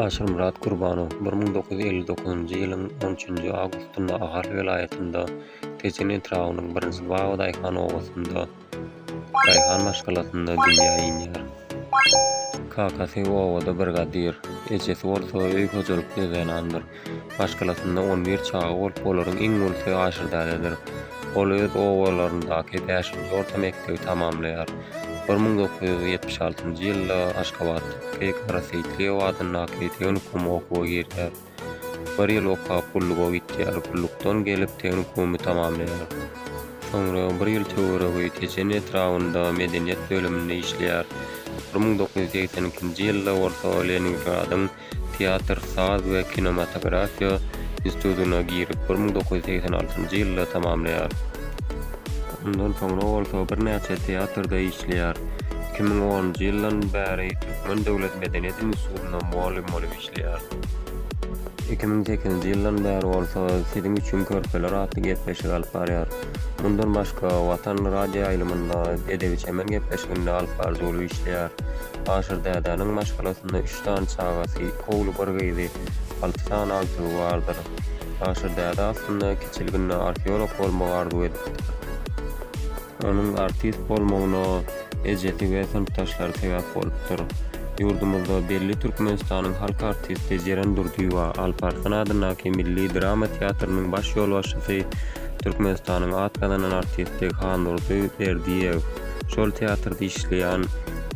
Aşyrmyrat Gurbanow bir müň dokuz ýüz elli dokuzynjy ýylyň on üçünji awgustynda Ahal welaýatynda Tejen etrabynyň birinji Baba daýhan obasynda daýhan maşgalasynda dünýä inýär. Kakasy obada brigadir, ejesi bolsa öý hojalykly zenandyr. Maşgalasynda on bir çaga bolup, olaryň iň ulusy Aşyrdädedir. Ol öz obalaryndaky bäşinji orta mekdebi tamamlaýar. Bir müň dokuz ýüz ýetmiş altynjy ýylda Aşgabatdaky Gara Seýitliýew adyndaky tehnikuma okuwa girýär. Bir ýyl okap, gulluga gitýär. Gullukdan gelip, tehnikumy tamamlaýar. Soňra bir ýyl töweregi Tejen etrabynda medeniýet bölüminde işleýär. Bir müň dokuz ýüz segsen ikinji ýylda bolsa Leningradyň Teatr, saz we kinematografiýa institutyna girip, bir müň dokuz ýüz segsen altynjy ýylda tamamlaýar. Ondan soňra bolsa birnäçe teatrda işleýär. Iki müň onunjy ýyldan bäri Türkmen döwlet medeniýet institutynda mugallym bolup işleýär. Iki müň sekizinji ýyldan bäri bolsa Siziň üçin körpeler atly gepleşigi alyp barýar. Mundan başga, Watan radioýaýlymynda edebi-çemen gepleşiginde alyp baryjy bolup işleýär. Aşyr dädäniň maşgalasynda üç sany çagasy, iki ogly, bir gyzy, alty sany agtygy bardyr. Aşyr däde aslynda kiçilginde arheolog bolmagy arzuw edipdir. Onuň artist bolmagyna ejesi we synpdaşlary sebäp bolupdyr. Ýurdumyzda belli Türkmenistanyň halk artisti Jeren Durdyýewa, Alparslan adyndaky milli drama teatrynyň baş ýolbaşçysy, Türkmenistanyň at gazanan artisti Handurdy Berdiýew, Şol teatrda işleýän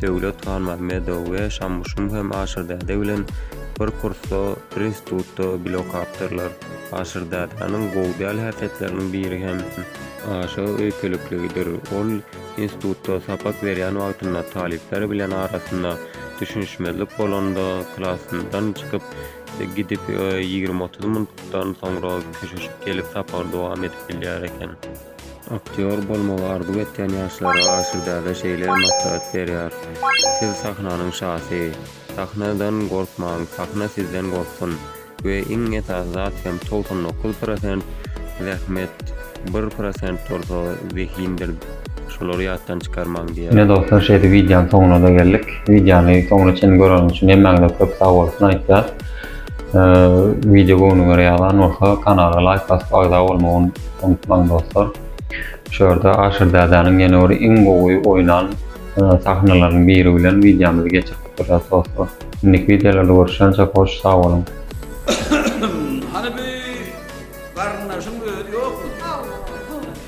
Döwlet Hanmahmedow we Şamuşum hem Aşyrdäde bilen bir kursda, bir institutda bile okapdyrlar. Aşyrdädäniň gowy däl häsiýetleriniň biri hem aşa öýkelikligidir. Ol institutda sapak berýän wagtynda talyplar bilen arasynda düşünişmezlik bolanda, klasyndan çykyp gidip, ýigrimi-otuz minutdan soňra köşeşip gelip sapagyny dowam edip bilýär eken. Aktýor bolmagy arzuw etýän ýaşlara aşyrdaga şeýle maslahat berýär, Siz sahnanyň şasy. Sahnadan gorkmaň, sahna sizden gorksun. We iň esasy zat hem togsan dokuz prosent zähmet, bir prosent bolsa zehindir, şolary ýatdan çykarmaň diýýär. Ine dostlar şeýdip wideonyň soňuna-da geldik. Wideony soňuna çenli göreniň üçin hemmäňize köp sagbolsun aýtýas. Video göwnüňe görä ýalan bolsa kanala laýk basyp agza bolmagy unutmaň dostlar. Şu ýerde Aşyr dädäniň ýene bir iň gowy oýnan sahnalarynyň biri bilen videomyzy geçirip gutarýas dostlar. Indiki videolarda görüşýänçäk hoş sag boluň. Hany bu garyndaşyň özi ýokmy? Ýok, bu.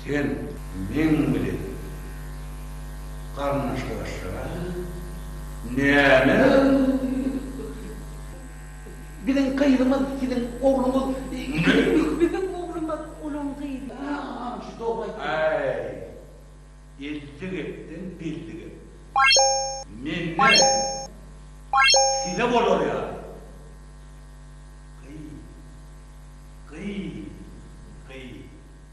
Sen meň bilen garyndaşlaşýaň näme Biziň gyzymyz siziň ogluňyz Biziň oglumyz olaň gyzy Aýy elli gepden belli gep Menden size bolar ýaly Gyy gyy gyy